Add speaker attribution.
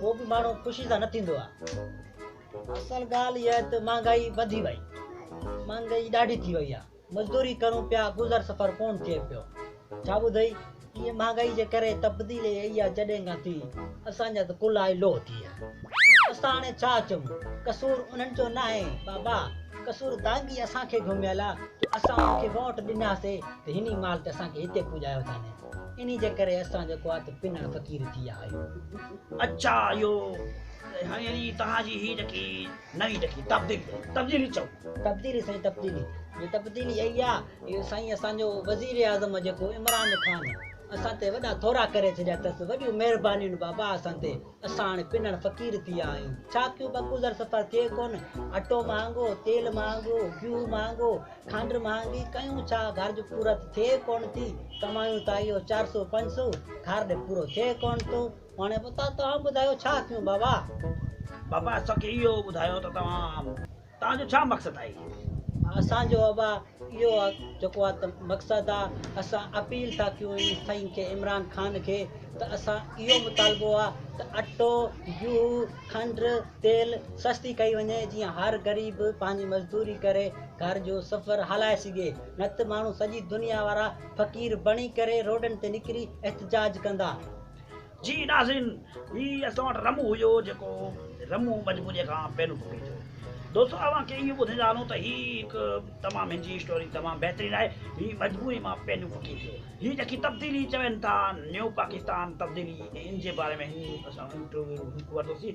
Speaker 1: پوء به ماڻهو خوشي سان نه ٿيندو آهي اصل ڳالهه اها آهي ته مهانگائي وڌي وئي مهانگائي ڏاڍي ٿي وئي آهي مزدوري ڪرون پيا گذر سفر ڪونه ٿئي پيو ڇا ٻڌئي ائين مهانگائي جي ڪري تبديلي اهي آهي جڏهن کان ٿي اسان جا ته ڪلا ئي لوهه ٿي ويا اسان هاڻي ڇا چون قصور انهن جو ناهي بابا قصور دانگي اسان کي گهميل آهي جو اسان انهن کي ووٽ ڏناسي ته هن ئي مال تي اسان کي هتي پڄايو اٿن انهي جي ڪري اسان جيڪو آهي ته پنڻ فقير ٿي ويا آهيون. اچا اهو
Speaker 2: يعني توهان جي هي جيڪي نئين جيڪي تبديلي آهي تبديلي چئو. تبديلي سائين تبديلي
Speaker 1: جي تبديلي اهي آهي اهو سائين اسان جو وزير اعظم جيڪو عمران خان اسان تي وڏا ٿورا ڪري ڇڏيا اٿس وڏيون مهربانيون بابا اسان تي. اسان هاڻي پنڻ فقير ٿي ويا آهيون. ڇا ڪيون ٻه گذر سفر ٿئي ڪونه. اٽو مهانگو، تيل مهانگو، گيهو مهانگو، کانڊ مهانگي، ڪيون ڇا گهرج پورت ٿئي ڪونه ٿي. ڪمايون ته اهو چار سؤ پنج سؤ، گهر ڏي پورو ٿئي ڪونه ٿو. هاڻي اتان توهان ٻڌايو ڇا ڪيون بابا. بابا
Speaker 2: اسان کي اهو ٻڌايو ته توهان. توهان جو ڇا مقصد آهي؟ اسان جو ابا
Speaker 1: اهو آ جيڪو آ ته مقصد آ اسان اپيل ٿا ڪيون اين سائين کي عمران خان کي ته اسان اهو مطالبو آ ته اٽو گيهو کنڊ تيل سستي ڪئي وڃي جيئن هر غريب پنهنجي مزدوري ڪري گهر جو سفر هلائي سگهي نه ته ماڻهو سڄي دنيا وارا فقير بڻي ڪري روڊن تي نڪري احتجاج ڪندا. جي
Speaker 2: ناظرين هي اسان وٽ رمو هيو جيڪو رمو مجبوري کان پينو ٽٽي ٿيو دوستو اوهان کي اهو ٻڌائيندا هلون ته هي هڪ تمام هن جي اسٽوري تمام بهترين آهي هي مجبوري مان پينو ٽٽي ٿيو هي جيڪي تبديلي چون ٿا نيو پاڪستان تبديلي ان جي باري ۾ هن اسان انٽرويو ورتوسي